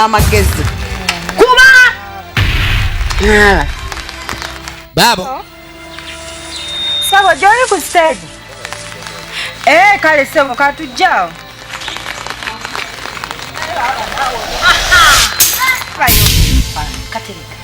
amagezi kuba baabo sabo gyoli ku siteegi ee eh, kale sebo katujjawo katereka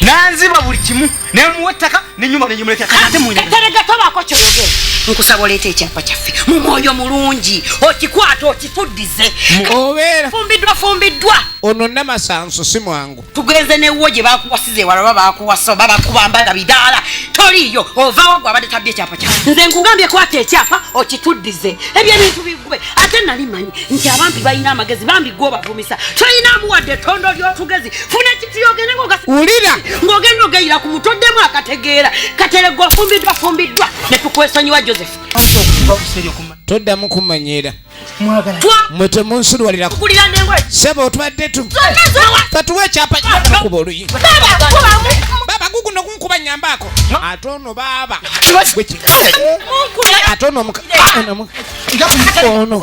nanziba buli kimu nemuwa ettaka nenyumba negyemulekera kati ate muterega tobaako kyoyogera nkusaba oleeta ekyapa kyaffe mu mwoyo mulungi okikwata okifuddize obeera fumbiddwa fumbiddwa ono namasanso si mwangu tugenze newuwo gye bakuwasiza ewala oba bakuwasa oba bakubambaga bidaala toliiyo ovawo gwe abadde tabye ekyapa kyaffe nze nkugambye kwata ekyapa okituddize ebyo ebintu bigube ate nali manyi nti abampi balina amagezi bambi gwe obavumisa tolina amuwadde ettondo ly'otugezi funa ekitiyo ogende ngowulira ng'ogenda ogeyira ku muto oddemu akategeera kateregwa ofumbiddwa fumbiddwa ne tukwesonyiwa joseph toddamu kumanyira mwe temunsulwalira sebo otubadde tu tatuwa ekyapa kuba oluyi baba guguno kunkuba nyambaako ate ono baaba ate ono ono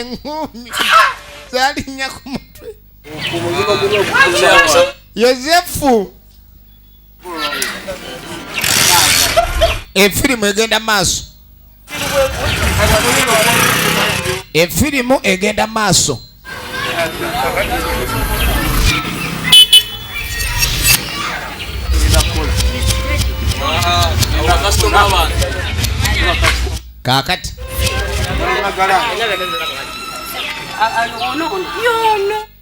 eŋŋuumi zalinnya ku mutwe yosefu efirimu egenda maaso efirimu egenda maaso kaakati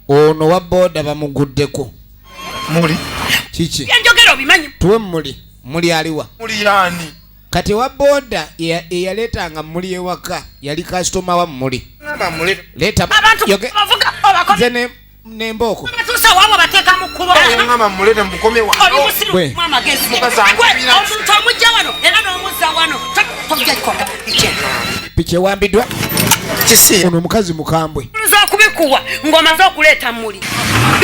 ono wa booda bamuguddeko muli kiki enjogera obimanyi tuwe muli muli aliwa muli yani kati wa boda eyaleetanga muli ewaka yali kasitoma wa muli nembooko piki ewambiddwa ono omukazi mukambwe kubikuwa ng'omaze okuleeta muli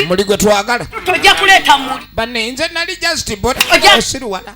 muli gwe twagala tojja kuleeta muli banne nze nali just bot osiruwala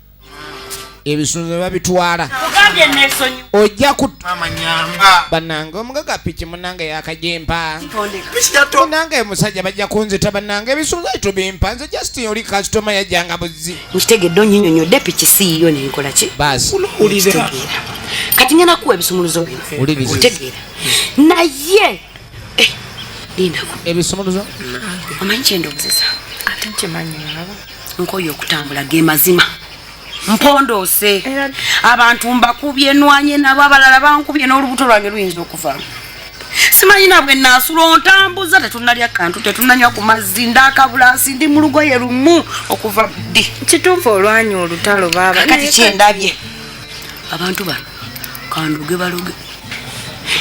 ebisunzo babitwala ojja banange omugaga piki munange yakajempa munange emusajja bajja kunzita banange ebisunzo etubimpa nze just oli kasitoma yajjanga buzzi nkitegedde onyinyonyodde piki siiyo nenkolaki basi kati ngenda kuwa ebisumuluzo bino otegeera naye eh, lindako ebisumuluzo omanyi kyendoozesa ate nkimanyi nkoye okutambula ge mazima mpondoose abantu mbakubye nwanye nabo abalala bankubye n'olubuto lwange luyinza okuva simanyi nabwe naasula ontambuza tetunalya kantu tetunanywa ku mazzi ndakabulasi ndi mu lugoye lumu okuva ddi kituufu olwanya olutalo babakati kyendabye abantu bano kanduge baloge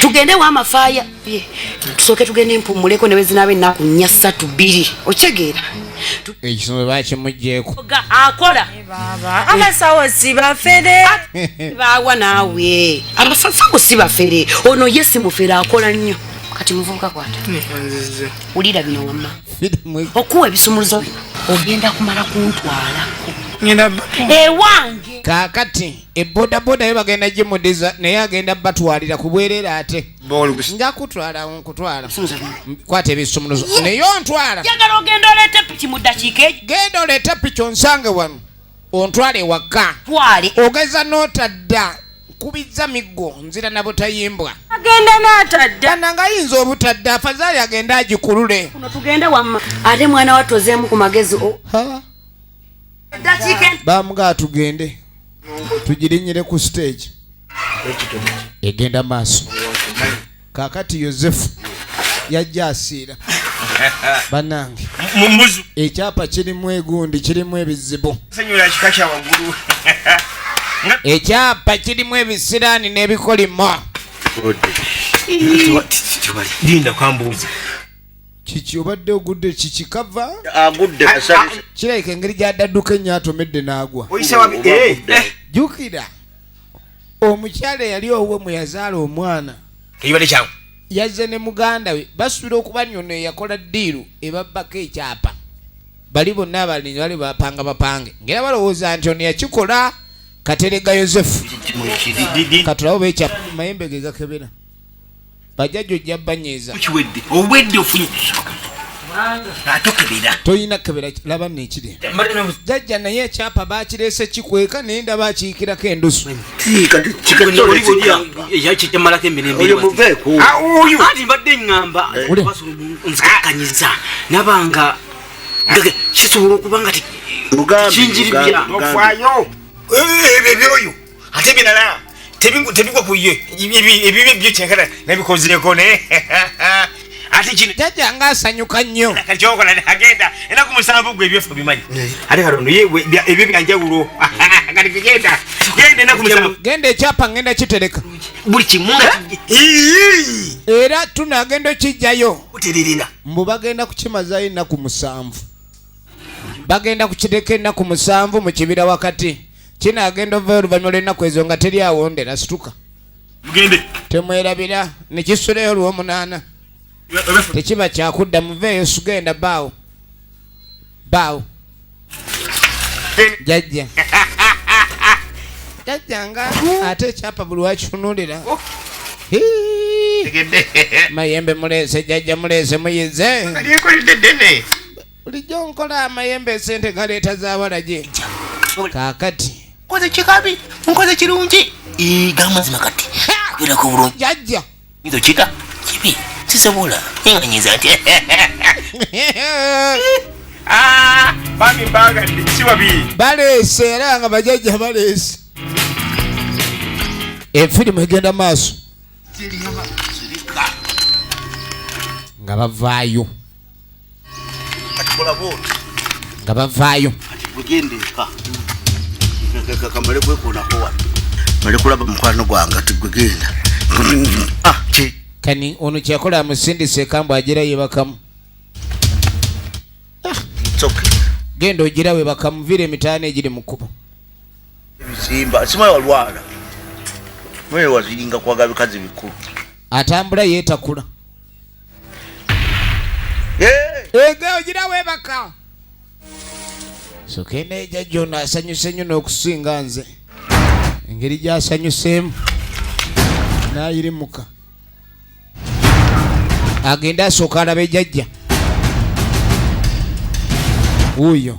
tugende wa mafaya tusooke tugenda empummuleko nebezinaaba ennaku nnya ssatu bbiri okitegeera ekisumbe bakimugyeko akola abasawo si bafere bawa naawe abasawo si bafere ono ye si mufere akola nnyo kati muvubuka kwata wulira bino wamma okuwa ebisumuluzo bino ogenda kumala kuntwala ewange kakati ebodaboda yo bagenda gimudiza naye agenda batwalira kubwerera ate nja kutwala nkutwala kwata ebisumuluzo naye ontwala njagala ogenda oleete piki mu ddakiika egi genda oleete piki onsange wano ontwale ewaka twale ogeza n'otadda nkubizza miggo nzira na butayimbwa agenda n'atadda ana nga ayinza obutadda afazaali agenda agikulule kuno tugende wamma ate mwana wattu ozeemu ku magezi bamugaa tugende tugirinyire ku stage egenda maaso kakati yosefu yajja asiira banange ekyapa kirimu egundi kirimu ebizibu ekyapa kirimu ebisiraani n'ebikolimo kiki obadde ogudde kiki kava agudde ah, ah, ah. kirabika engeri gyadadduka ennyo atomedde n'agwa eh, eh. jukira omukyala eyali owuwe mwe yazaala omwana yazze ne muganda we basuubira okuba nyono eyakola ddiiru ebabbako ekyapa bali bonna abalinyi bali bapanga bapange ngaera balowooza nti ono yakikola katerega yosefu katulawo bekyapa mayembe ge gakebera bajjajja ojja banyiiza kiwedde obwedde ofunye atokebera tolina kebera laba nekiri jajja naye ekyapa bakirese kikweka naye ndaba akiyikirako endusu yakijamalako emirembeati mbadde ngamba nzikanyiza nabanga kisobola okuba nga kinjiribya ebyo byoyo ate ebirala tebigwa ku ye ebibi byo kyenkana nabikozeko ne ate kino jajja nga asanyuka nnyo kyokola agenda era ku musanvu gwe ebyofu bimanyi eh. ate katondo ebyo byanjawulo kati kigenda genda enaku musanvu genda ekyapa ngenda kitereka buli kimu era tunagenda okijjayo uteririna mbu bagenda kukimazayo enaku musanvu bagenda kukireka enaku musanvu mu kibira wakati kino agenda ova oluvannyuma lw'ennaku ezo nga teri awondera situka mugende temwerabira ne kisulayo olw'omunaana tekiba kyakudda muveeyo sugenda baawo baawo jajja jajja nga ate ekyapa buli wakitunulira oh. mayembe muleese jajja muleese muyize bulijjo nkola amayembe esente galeeta zabalagye kakati nkoze kikabi nkoze kirungi gamazima kati yolako bulungi jajja nyizo kika kibi sisobola enganyiza ati ah, bami mbagadde sibabi baleese era nga bajajja baleese efirimu egenda maaso nga bavaayo nga bavaayo malikulaba mukwano gwange ati gwe genda ah, kani ono kyakola amusindisa ekambo agira yebakamu ah. genda ogira webakamuviira emitaano egiri mu kkubo ebizimba simaye walwala mwewaziringa kwaga bikazi bikulu atambula yetakula ego ogira webaka sokena eja jona asanyuse nyo n'okusinga nze engeri gyasanyuseemu nayirimuka agende asooka alabe jajja wuuyo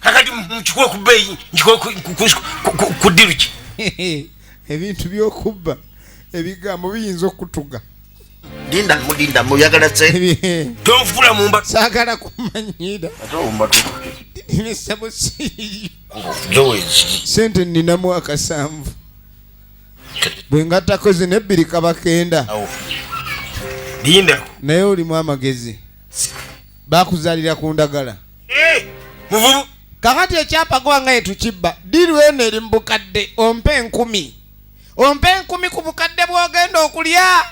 kakati nkikuwe ku bbeeyi nkikuwe ku ddiru ki ebintu byokubba ebigambo biyinza okutuga dinda mudinda muyagala se tonfula mumba sagala kumanyira sente ninamu akasanvu bwe ngattako zino ebbiri kabakenda naye olimu amagezi bakuzalira ku ndagala muvubu kakati ekyapa gwanga yetukibba diru eno eri mu bukadde ompa enkumi ompa enkumi ku bukadde bwogenda okulya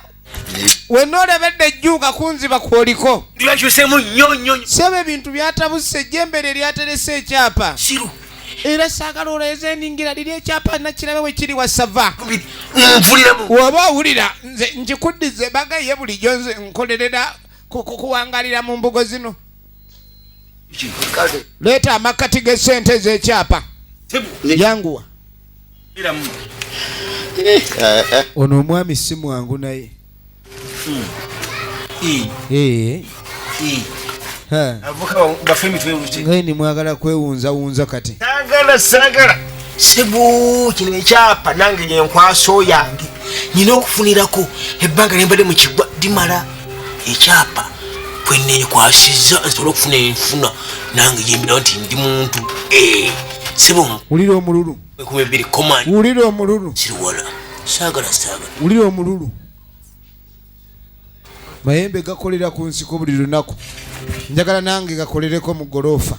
wena olebedde ejjuuka kunziba kwoliko ndibakyusemu nyo nyo sebe ebintu byatabuse ejjembere eryaterese ekyapa siru era saagala oleeze eningira liri ekyapa nakirabe we kiri wasava woba owulira nze nkikuddize bagaye bulijjo nze nkolerera kuwangalira mu mbugo zino leeta amakkati g'essente ez'ekyapa yanguwa eh, eh, eh. ono omwami si mwangu naye hmm. ngaye nimwagala kwewunzawunza kati sagala sagala sibu kino ekyapa nange yenkwaso yange nina okufunirako ebbanga nembadde mu kigwa dimala ekyapa kwenekwasizza nsobola okufuna enfuna nange gyembirawo nti ndi muntu eh, sibowulira omululu wulira omululu siriwala saagala saagala wulira omululu mayembe gakolera ku nsiko buli lunaku njagala nange gakolereko mu goloofa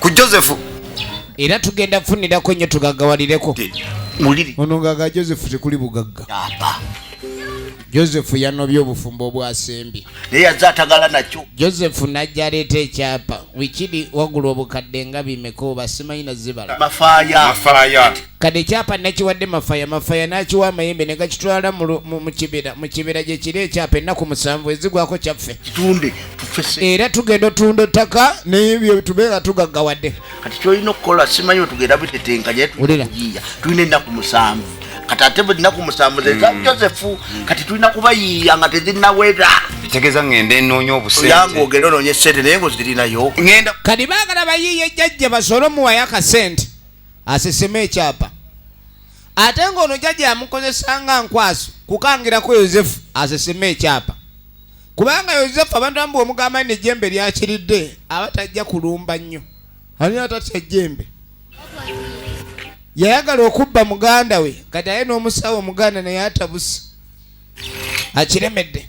ku josefu era tugenda kufunirako nnyo tugagawalireko ono ngaga josefu tekuli bugagga josefu yanobye obufumbo obwasembye naye yaze atagala nakyo josefu najja aleeta ekyapa wikiri wagula obukadde nga bimeka oba simanyi nazibala mafaaya Kati ekyapa nakiwadde Mafaya, Mafaya n'akiwa Amayembe ne gakitwala mu kibira. Mu kibira gye kiri ekyapa ennaku musanvu ezigwako kyaffe. Kitunde tufese. Era tugenda otunda ettaka n'ebyo tube nga tugaggawadde. Kati ky'olina okukola simanyi otugenda bitetenkanya tulina ennaku musanvu kati ate ennaku musanvu zeza mm. Joseph mm. kati tulina kubayiiya nga tezinawera tegeza ngende nonya obuseyange ogenda ononya sente naye ngozirinayo kati bagala bayiiye jajja basole omuwayo akasente asesema ekyapa ate ng'ono jajja yamukozesa nga nkwaso kukangirako yosefu asesema ekyapa kubanga yosefu abantu amu bwomugamba ni nejjembe lyakiridde aba tajja kulumba nnyo ani atatya jjembe yayagala okubba muganda we kati aye n'omusawo omuganda naye atabusi akiremedde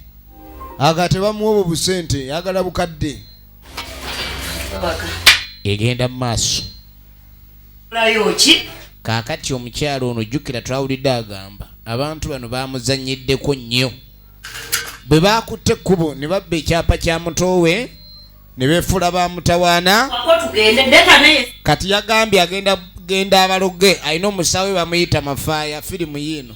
aga tebamuwa obwo busente yagala bukadde egenda mu maaso kolayo ki kaakati omukyalo ono jjukira twawulidde agamba abantu bano bamuzanyiddeko nnyo bwe baakutte ekkubo ne babba ekyapa kya mutoowe ne beefuula ba mutawaana kati yagambye agenda genda abaloge alina omusaawe bamuyita mafaaya firimu yiino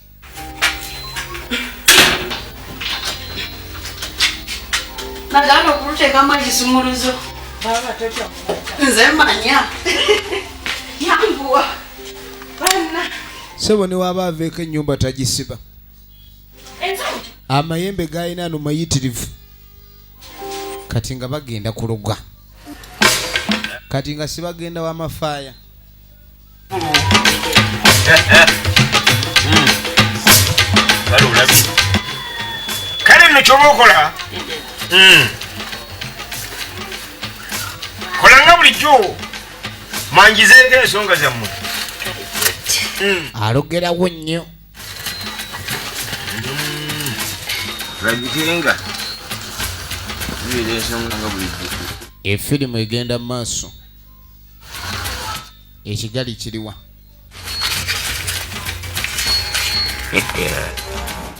nagana okulutekamu ekisumuluzo nze manya yanguwa bana sebo newaba aveeko enyumba tagisiba amayembe galina no mayitirivu kati nga bagenda kuloga kati nga sibagenda wamafaaya kale nno kyoba okola hmm. kolanga bulijjo mwanjizeeko ensonga zammwe hmm. alogerawo nnyo lagikirenga hmm. efirimu egenda mu maaso ekigali kiriwa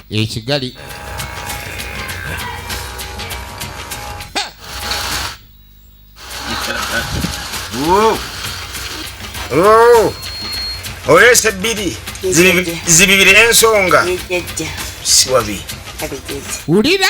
ekigali oleesa ebbiri zibibire ensonga siwabi wulira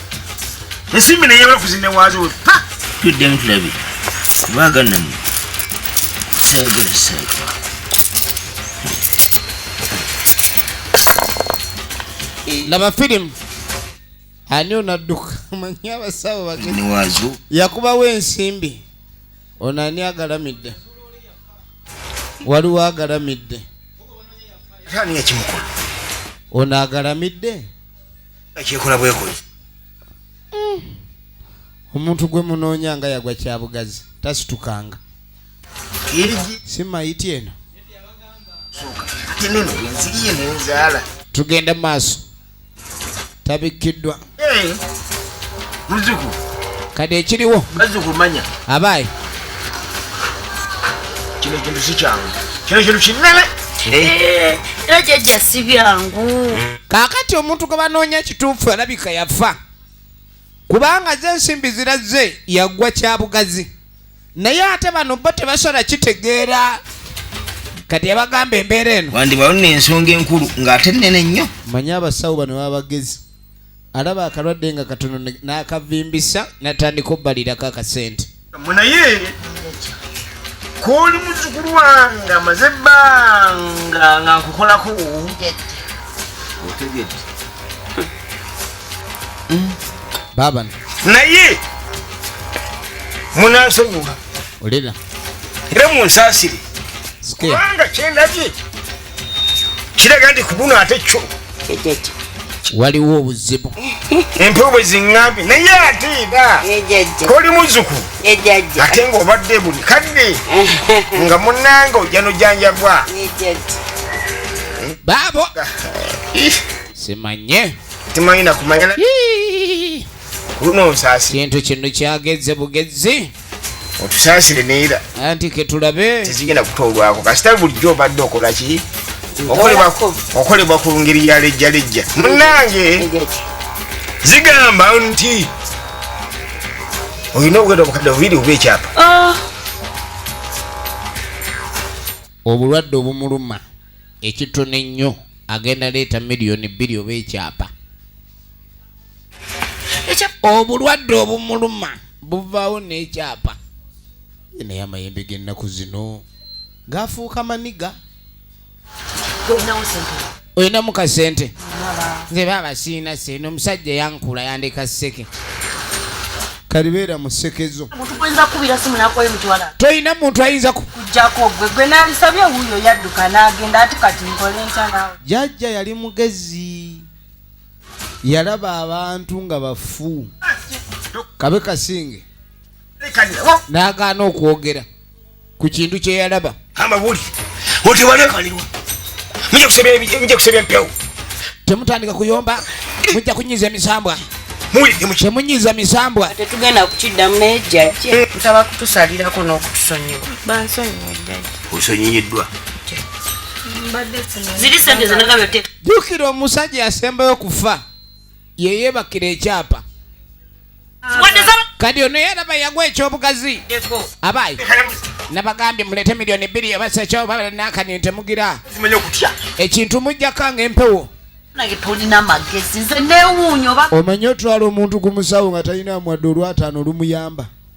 ensimbi naye bafuzi newaazo pa tuddemu tulabe bagannamu seego seego laba firimu ani onadduka manyi abasawo bageniwaazo yakubawo ensimbi ono ani agalamidde waliwo agalamidde ani yakimukulu ono agalamidde kyekola bwekuli mm. omuntu gwe munoonya nga yagwa kyabugazi tasitukanga simayiti eno tugenda maaso tabikkiddwa eh, kati ekiriwo abaayi kino ekintu si kyangu kino kintu kinene eh, era jajja si byangu kaakati omuntu gwe banoonya kituufu alabika yafa kubanga ze ensimbi zirazze yagwa kyabugazi naye ate bano bo tebasobola kitegeera kati yabagamba embeera eno wandibalo nensonga enkulu ng'ate nene nnyo manye abasawo bano baba bagezi alaba akalwadde nga katono n'akavimbisa natandika obbalirako akasente munaye koli muzukulu wange amaze ebbanga nga nkukolako baba naye munansonyiwa olera era munsasire kubanga kyendabye kiraga nti kubuno ate kyo waliwo obuzibu empewo bwe ziŋŋambye naye ate era koli muzuku ate ng'obadde buli kadde nga munange ojja nojanjabwa baabo simanye timanyi nakumanya luno nsasi kintu kino kyageze bugezi otusaasire neera anti ketulabe tezigenda kutoolwako kasita bulijjo obadde okola ki okolebwa ku ngeri ya lejjalejja munange zigamba nti olina okugenda obukadde bubiri oba ekyapa ah. obulwadde obumuluma ekitono ennyo agenda leeta miliyoni bbiri oba ekyapa obulwadde obumuluma buvaawo n'ekyapa naye amayembe g'ennaku zino gafuuka maniga olinamu kasente nze baaba siina sente omusajja yankula yandeka seke kalibeera mu seke zo tolina muntu ayinza jajja yali mugezi yalaba abantu nga bafu kabe kasinge n'agaana okwogera ku kintu kye yalaba temutandika kuyomba mujja kunyiza emisambwa temunyiza misambwa tetugenda kukiddamu naye jjajje eh. ntaba kutusalirako n'okutusonyiwa bansonyiwa jjajje osonyiyiddwa ziri sente zenagabyote jjukira omusajja yasembayo okufa yeyebakira ekyapa kati ono yalaba yagwa ekyobugazi abaayi nabagambye mulete miliyoni bbiri ebasekyobalanakani ntemugira ekintu mujjako nga empewo omanyi otwala omuntu ku musawo nga talina mwadde olwataano olumuyamba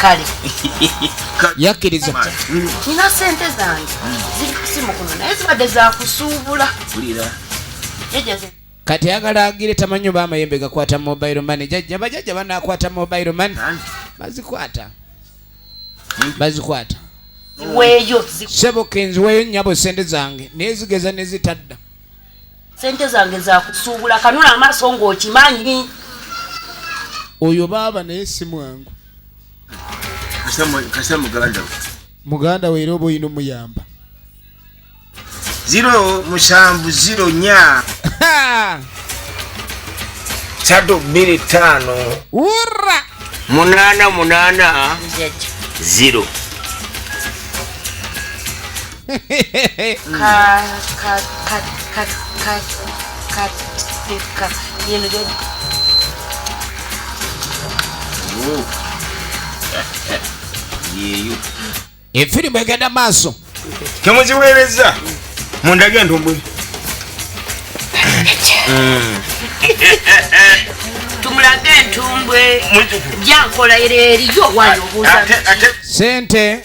kale yakkiriza nina sente zange ziri kusimu kuno naye zibadde zakusuubula kati ayagala agire tamanyi oba amayembe gakwata mobile money jajja bajajja banakwata mobile money bazikwata bazikwata sebo kenziweyo nyabo sente zange naye zigeza nezitadda sente zange zakusuubula kanula amaaso ngaokimanyi oyo baaba naye si mwangu kasa muganda muganda we era oba olina omuyamba ziro musanvu ziro nya satu bbiri ttaano wurra munaana munaana ziro efirimu egenda maaso temuziweereza mundage ntumbwe tumulage entumbwe jankola era eriyo wali obuuza sente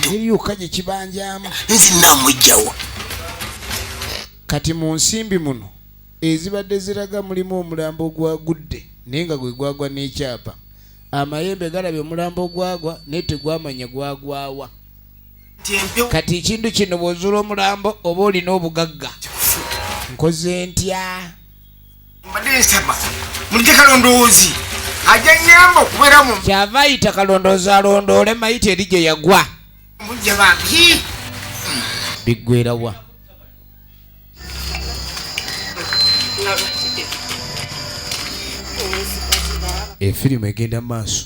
teri yokka gye kibanjamu nzinamujjawo kati mu nsimbi muno ezibadde ziraga mulimu omulambo ogwagudde naye nga gwe gwagwa n'ekyapa amayembe galabye omulambo ogwagwa naye tegwamanya gwagwawa kati ekintu kino bw'ozuula omulambo oba olina obugagga nkoze ntya mbadde nsaba mulije kalondoozi ajja nyamba okubeera mu kyava ayita kalondoozi alondoole mayita eri gye yagwa mujja bambi biggwerawa efirimu egenda mu maaso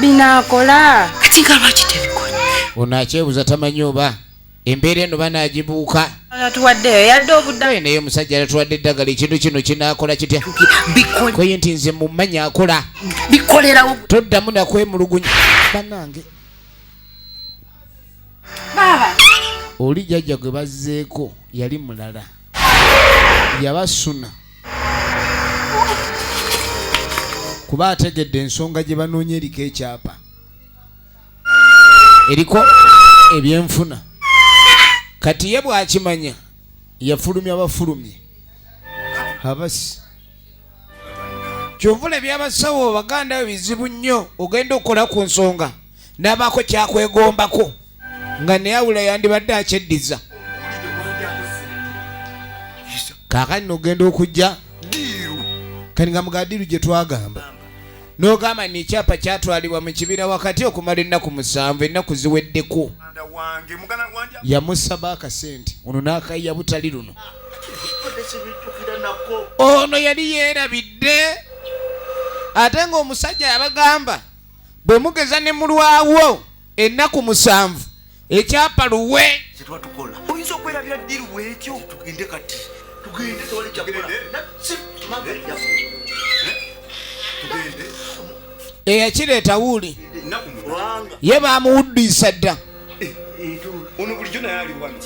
binakola kati nga lwaki tebikola ono akyebuza tamanyi oba embeera eno banagibuuka natuwaddeyo yadde obuddayo naye omusajja natuwadde eddagala ekintu kino kinakola kitya koye nti nze mumanyi akola bikolerawo toddamu nakwemulugunya banange oli jajja gwe bazzeeko yali mulala yaba suna kuba ategedde ensonga gye banoonya eriko ekyapa eriko ebyenfuna kati ye bwakimanya yafulumya abafulumye abasi kyovula ebyabasawo baganda bizibu nnyo ogenda okukola ku nsonga n'abaako kyakwegombako nga neyawula yandibadde akyeddiza kakati nogenda okujja kati nga mugadiru gye twagamba nogamba ni ekyapa kyatwalibwa mu kibira wakati okumala ennaku musanvu ennaku ziweddeko yamusaba akasente ono n'akayiya butali luno ono yali yeerabidde ate ng'omusajja yabagamba bwe mugeza ne mulwawo ennaku musanvu ekyapa luwe kyetwatukola oyinza okwerabira ddiru bwetyo tugende kati tugende tewali kyakola eyakireeta wuuli ye baamuwuddiisa dda eh, eh, ono bulijjo naye ali wano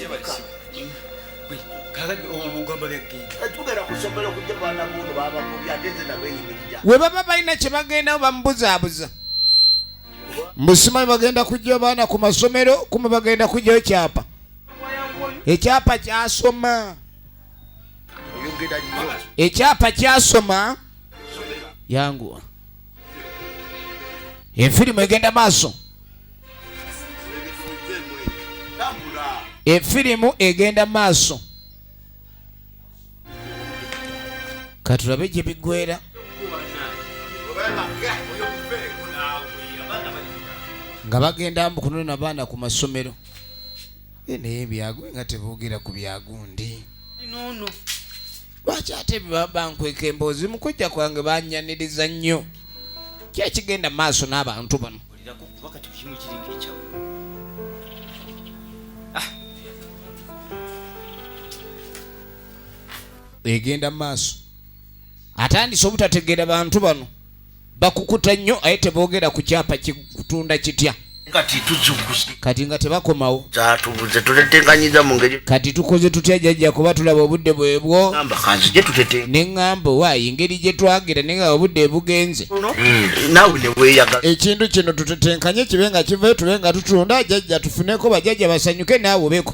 we baba balina kye bagendawo bamubuzaabuza mbusimanyi bagenda kujja baana ku masomero kuma bagenda kujjayo kyapa ekyapa kyasoma ekyapa kyasoma yanguwa efirimu egenda maaso efirimu egenda maaso katulabe gye bigwera nga bagenda mbu kunona baana ku masomero eh, naye byagu nga teboogera ku byagundi lwaki ate bankweka emboozi mu kujja kwange banyaniriza nnyo ki ekigenda mu maaso n'abantu bano ah. egenda mu maaso atandise obutategeera bantu bano bakukuta nnyo aye teboogera ku kyapa kitunda kitya kati tuzukusi kati nga tebakomawo zatubuze tutetenkanyiza mu ngeri kati tukoze tutya jajja kuba tulaba obudde bwebwo amba kanzi gye tutete ne ŋŋamba waayi ngeri gye twagira naye nga obudde bugenze hmm. naawe ne weeyagala ekintu kino tutetenkanye kibe nga kivayo tube nga tutunda jajja tufuneko bajajja basanyuke naawe obeko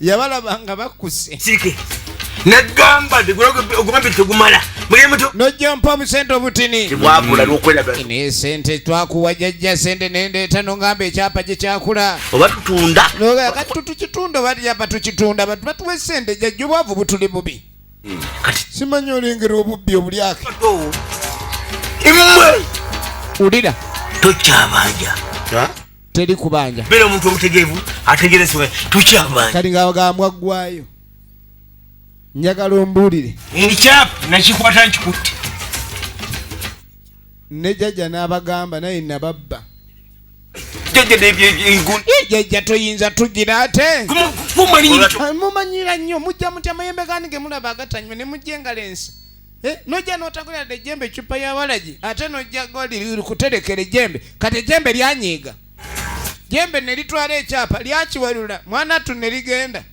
yabalaba nga bakkuse nagamba ogumambi tegumala nojjampa obusente obutini tebwabula lwokweraga naye sente twakuwa jajja sente nendeeta nongamba ekyapa gye kyakula oba tutunda kati tutukitunda oba tyapa tukitunda batu batuwa esente jajja obwavu butuli bubi hmm. kati simanyi olengera obubbi obulyake imwe ulira tokyabanja teri kubanja bera omuntu omutegeevu ategerezebwa tukyabanja kati nga agambwa ggwayo njagala ombuulire ekyapa nakikwata nkikutte ne jajja n'abagamba naye nababba jajja toyinza tugira ate mumanyira nnyo mujja mutya mayembe gani gemulaba agatanyuma ne mujja engalo ensi Eh, nojja notagulira de jembe ecupa ya walagi ate nojja goli kuterekera ejembe kati ejembe lyanyiiga jembe nelitwala ekyapa lyakiwalula mwana tu neligenda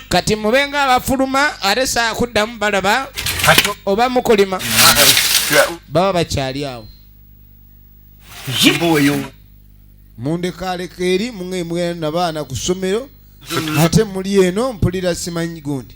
kati mubenga abafuluma ate sakuddamu balaba oba mukulima baba bakyali awo mundekaleka eri mwe mwana baana ku ssomero ate muli eno mpulira simanyi gundi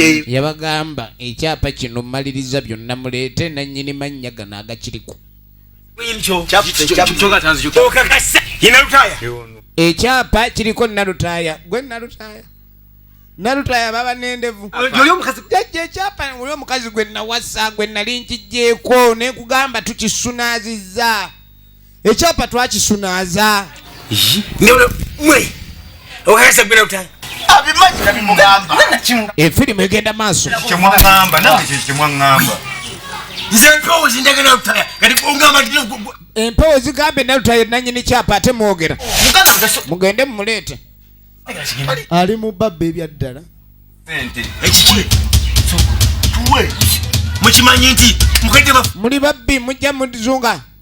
Eh, yabagamba ekyapa kino maliriza byonna muleete nanyini mannya gano agakiriku ekyapa kiriko nalutaaya gwe nalutaaya nalutaaya baba nendevu jajja ekyapa oli omukazi gwe nawasa gwe nali nkijjeeko nekugamba tukisunaazizza ekyapa twakisunaaza efirimu egenda maaso empewo zigambye nalutaye nanyini kyapa ate mwogera mugende mumuleete ali mu babba ebyaddala muli babbi mujja muzunga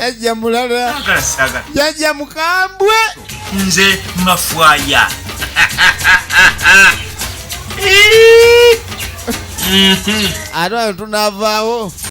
jajja mulala jajja mukambwe nze mafwaya ate ayo tunavaawo